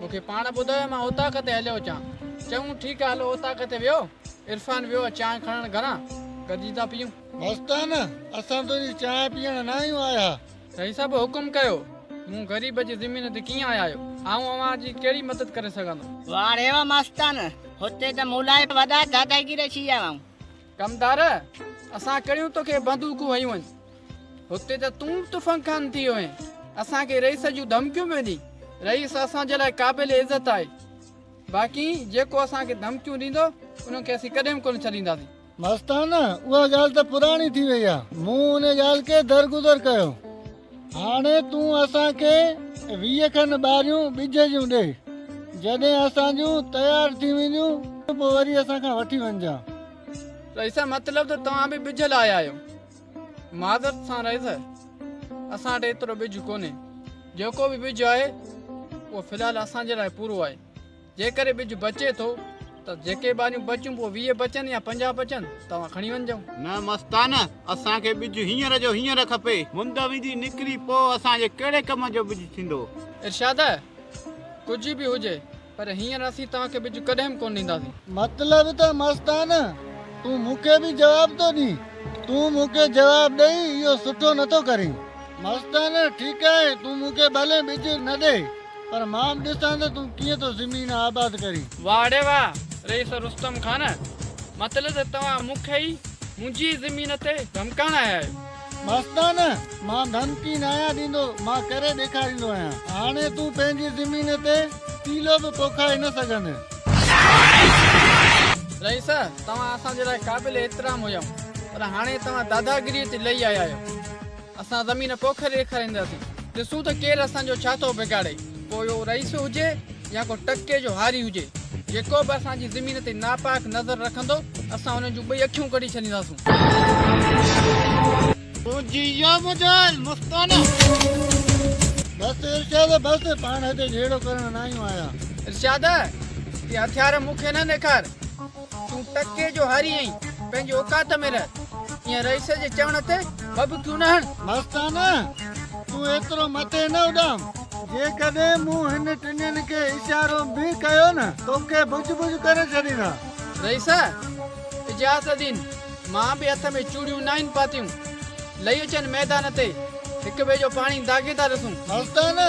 مون کي پاڻ ٻڌايو مان اوطاق تي هليو اچان. چيائون ٺيڪ آ هلو اوطاق تي ويو. عرفان ويو چانهه کڻڻ گهران. گڏجي ٿا پيئون. مستانه اسان تنهنجي چانهه پيئڻ نه آهيون آيا. سائين صاحب حڪم ڪيو. مون غريب جي زمين تي ڪيئن آيا آهيو. آئون اوهان جي ڪهڙي مدد ڪري سگهندو. واريو مستانه هتي ته مون لاء وڏا داداگير ڇي آئون. ڪمدار! اسان ڪهڙيون توکي بندوقون هنيون آهن؟ هتي ته تون به تفنگ خان ٿي ويو آهين. اسان کي رئيس جون ڌمڪيون به ڏي. رئيس اسان جي لاء قابل عزت آهي. باقي جيڪو اسان کي ڌمڪيون ڏيندو، انهن کي اسين ڪڏهن به ڪونه ڇڏينداسين. مستانه! اها ڳالهه ته پراڻي ٿي ويئي آهي. مون ان ڳالهه کي درگذر ڪيو. هاڻي تون اسان کي ويهه کن ٻاريون ٻج جون ڏي، جڏهن اسان جون تيار ٿي وينديون، پوء وري اسان کان وٺي وڃجان. رئيسه، مطلب ته توهان به ٻج لاء آيا آهيو؟ معذرت سان رئيسه، اسان وٽ ايترو ٻج ڪونهي. جيڪو به ٻج آهي، اهو في الحال اسان جي لاء پورو آهي. جيڪڏهن ٻج بچي ٿو ته جيڪي ٻاريون بچون پوء ويهه بچن يا پنجاهه بچن توهان کڻي وڃجو. نه مستانه، اسان کي ٻج هينئر جو هينئر کپي. مند ويندي نڪري پوء اسان جي ڪهڙي ڪم جو ٻج ٿيندو؟ ارشاده، ڪجهه به هجي پر هينئر اسين توهان کي ٻج ڪڏهن به ڪونه ڏينداسين. مطلب ته مستانه، تون مون کي به جواب ٿو ڏين؟ تون مون کي جواب ڏئي اهو سٺو نٿو ڪرين. مستانه، ٺيڪ آهي، تون مون کي ڀلي ٻج نه ڏي. پر مان به ڏسان ته تون ڪيئن ٿو زمين آباد ڪرين. واهڙي واهه رئيس رستم خان، مطلب ته توهان مون کي ئي منهنجي ئي زمين تي ڌمڪائڻ آيا آهيو. مستان، مان ڌمڪي نه آهيان ڏيندو، مان ڪري ڏيکاريندو آهيان. هاڻي تون پنهنجي زمين تي تيلو به پوکائي نه سگهندين. رئيس، توهان اسان جي لاء قابل احترام هيائون، پر هاڻي توهان داداگيريء تي لهي آيا آهيو. اسان زمين پوکي ڏيکارينداسين، ڏسون ته ڪير اسان جو ڇا ٿو بگاڙي، پوء اهو رئيس هجي يا ڪو ٽڪي جو هاري هجي، جيڪو به اسان جي زمين تي ناپاڪ نظر رکندو، اسان ان جون ٻئي اکيون ڪڍي ڇڏينداسون. تنهنجي اها مجال مستانه. بس ارشاد بس، پاڻ هتي جهيڙو ڪرڻ نه آيون آهيان. ارشاد، اهي هٿيار مون کي نه ڏيکار. تون تڪيء جو هاري آهين، پنهنجي اوقات ۾ رهه. ايئن رئيس جي چوڻ تي ڀڀڪيون نه هڻ. مستانه! تون ايترو مٿي نه اڏام. جيڪڏهن مون هن ٽنين کي اشارو به ڪيو نه، توکي ڀڄ ڀڄ ڪري ڇڏيندا. رئيس! اجاز الدين، مان به هٿ ۾ چوڙيون ناهن پاتيون. لهي اچن ميدان تي، هڪ ٻئي جو پاڻي داغيندا رسون. مستانه!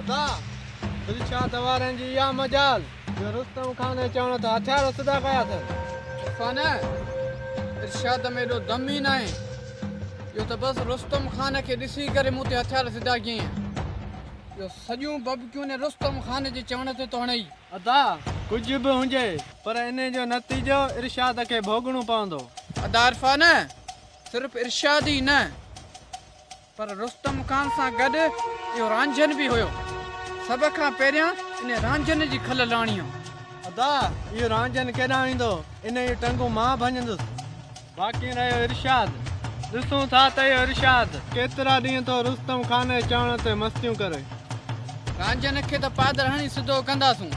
ادا! دلشاد اوهارين جي اها مجال، جو رستم خان جي چوڻ تي هٿيار اسودا ڪيا اٿس. عرفان! ارشاد ۾ ايڏو دم ئي ناهي، جو ته بس رستم خان کي ڏسي ڪري مون تي هٿيار اسودا ڪيئين، جو سڄيون ببڪيون ني رستم خان جي چوڻ تي ٿو هڻئي. ادا! ڪجهه به هجي، پر انهي جو نتيجو ارشاد کي ڀوڳڻو پوندو. ادا! عرفان! صرف ارشاد ئي نه، پر رستم خان سان گڏ اهو رانجهن به هيو. سڀ کان پهريان انهي رانجهن جي کل لاڻيو. ادا اهو رانجهن ڪيڏانهن ويندو؟ انهي جون ٽنگون مان ڀڃندس. باقي رهيو ارشاد. ڏسون ٿا ته اهو ارشاد ڪيترا ڏينهن ٿو رستم خان جي چوڻ تي مستيون ڪري. رانجهن کي ته پادر هڻي سڌو ڪنداسون.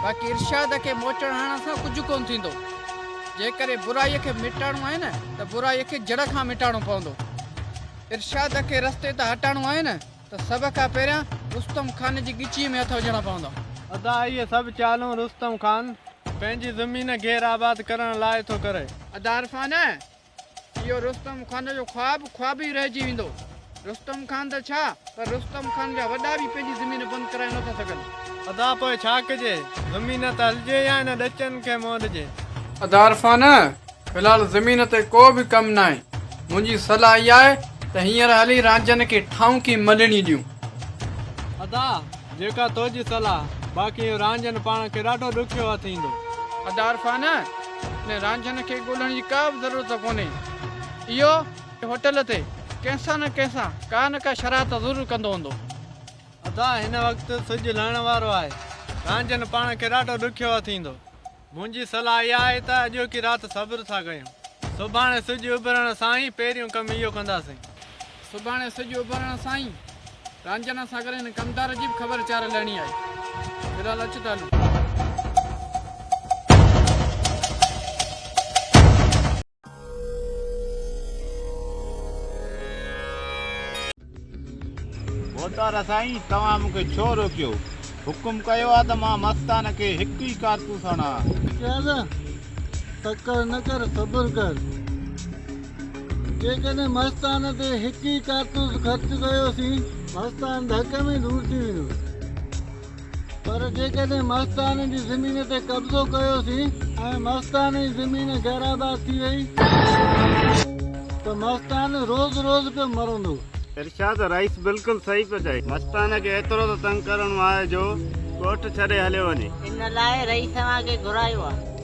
باقي ارشاد کي موچڙ هڻڻ سان ڪجهه ڪونه ٿيندو. جيڪڏهن برائي کي مٽائڻو آهي نه ته برائي کي جڙ کان مٽائڻو پوندو. ارشاد کي رستي تان هٽائڻو آهي نه ته سڀ کان پهريان رستم خان جي ڳچيء ۾ هٿ وجهڻا پوندا. ادا اهي سڀ چالون رستم خان پنهنجي زمين گير آباد ڪرڻ لاء ٿو ڪري. ادا عرفان اهو رستم خان جو خواب خواب ئي رهجي ويندو. رستم خان ته ڇا پر رستم خان جا وڏا به پنهنجي زمين بند ڪرائي نٿا سگهن. ادا پوء ڇا ڪجي؟ زمين ته هلجي يا هن ڏچن کي منهن ڏجي. ادا عرفان في الحال زمين تي ڪو به ڪم ناهي. منهنجي صلاح اها آهي ته هينئر هلي رانجهن کي ٺاهونڪي ملڻي ڏيون. ادا جيڪا تو جي صلاح. باقي اهو رانجهن پاڻ کي ڏاڍو ڏکيو هٿ ايندو. ادا عرفان! ان رانجهن کي ڳولهڻ جي ڪا به ضرورت ڪونهي. اهو هوٽل تي ڪنهن سان نه ڪنهن سان ڪا نه ڪا شرارت ضرور ڪندو هوندو. ادا هن وقت سج لهڻ وارو آهي. رانجهن پاڻ کي ڏاڍو ڏکيو اٿيندو. منهنجي صلاح اها آهي ته اڄوڪي رات صبر ٿا ڪيون. سڀاڻي سج اڀرڻ سان ئي پهريون ڪم اهو ڪنداسين. سڀاڻي سج اڀرڻ سان ئي رانجهڻ سان ڪري هن ڪمدار جي به خبر چار لهڻي آهي. في الحال اچ ته هلون. موتارا سائين توهان مون کي ڇو روڪيو؟ حڪم ڪيو آهي ته مان مستان کي هڪ ئي ڪارتوس هڻان. چل تڪڙ نه ڪر صبر ڪر. جيڪڏهن مستان تي هڪ ئي ڪارتوس خرچ ڪيوسين، مستان ڌڪ ۾ دور ٿي ويندو. پر جيڪڏهن مستان جي زمين تي قبضو ڪيوسين ۽ مستان جي زمين غير آباد ٿي وئي ته مستان روز روز پيو مرندو. ارشاد رئيس بلڪل صحيح پيو چئي. مستان کي ايترو ته تنگ ڪرڻو آهي جو ڳوٺ ڇڏي هليو وڃي. ان لاء رئيس اوهان کي گهرايو آهي.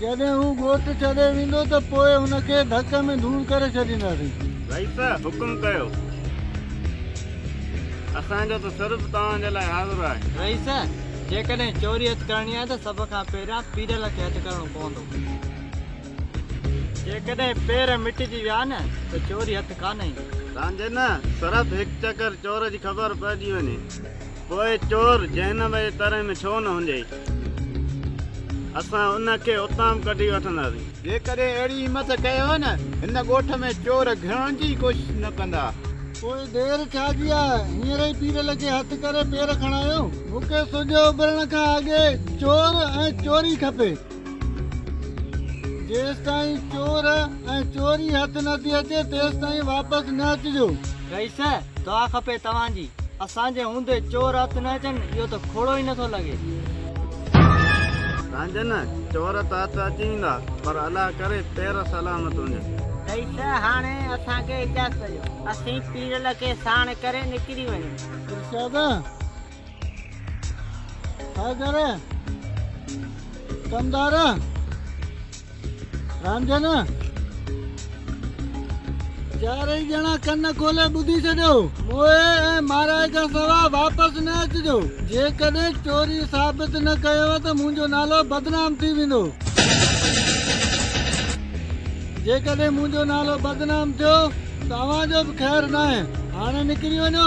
جڏهن هو ڳوٺ ڇڏي ويندو ته پوء هن کي ڌڪ ۾ ڌوڙ ڪري ڇڏينداسين. رئيس حڪم ڪيو. اسان جو ته سر به توهان جي لاء حاضر آهي. رئيس، جيڪڏهن چوري هٿ ڪرڻي آهي ته سڀ کان پهريان پيرل کي هٿ ڪرڻو پوندو. جيڪڏهن پير مٽجي ويا نه ته چوري هٿ ڪانه ايندي. رانجهي نه، صرف هڪ چڪر چور جي خبر پئجي وڃي. پوء چور جهنم جي تري ۾ ڇو نه هنجي؟ اسان ان کي اتان به ڪڍي وٺنداسين. جيڪڏهن اهڙي همٿ ڪيو نه، هن ڳوٺ ۾ چور گهڙڻ جي ئي ڪوشش نه ڪندا. پوء دير ڇا جي آ، هينئر ئي پير لڳي هٿ ڪري پير کڻايو. مون کي سج اڀرڻ کان اڳي چور ۽ چوري کپي. جيستائين چور ۽ چوري هٿ نه ٿي اچي تيستائين واپس نه اچجو. رئيس، دعا کپي توهان جي. اسان جي هوندي چور هٿ نه اچن اهو ته کوڙو ئي نٿو لڳي. رانجهن، چور ته هٿ اچي ويندا پر الله ڪري پير سلامت هجن. رئيس، هاڻي اسان کي اجازت ڏيو اسين پيرل کي ساڻ ڪري نڪري وڃون. ارشاد، ڇا ڪري ڪم ڌار رانجهن چارئي ڄڻا ڪن کولي ٻڌي ڇڏيو موهي ۽ مارائي کان سوا واپس نه اچجو جيڪڏهن چوري ثابت نه ڪيو ته منهنجو نالو بدنام ٿي ويندو جيڪڏهن منهنجو نالو بدنام ٿيو ته اوهان جو به خير ناهي هاڻي نڪري وڃو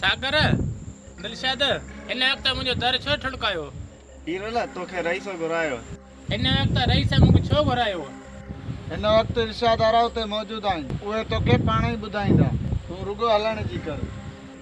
ساگر، دلشاد! هن وقت منهنجو در ڇو ٺڻڪايو؟ هيرل، توکي رئيس گهرايو. هن وقت رئيس مونکي ڇو گهرايو؟ هن وقت ارشاد آرا اتي موجود آهن. اهي توکي پاڻهئي ٻڌائيندا. تون رڳو هلڻ جي ڪر.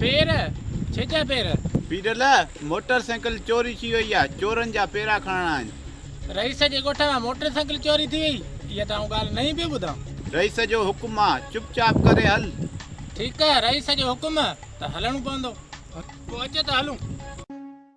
پير، ڇيجا پير. پيرل، موٽر سائيڪل چوري ٿي وئي آ، چورن جا پيرا کڻڻا آهن. رئيس جي ڳوٺ مان موٽر سائيڪل چوري ٿي وئي، اها ته آئون ڳالهه نئين پيو ٻڌان. رئيس جو حڪم آ، چپ چاپ ڪري هل. ٺيڪ، رئيس جو حڪم ته هلڻو پوندو. پوء اچ ته هلون.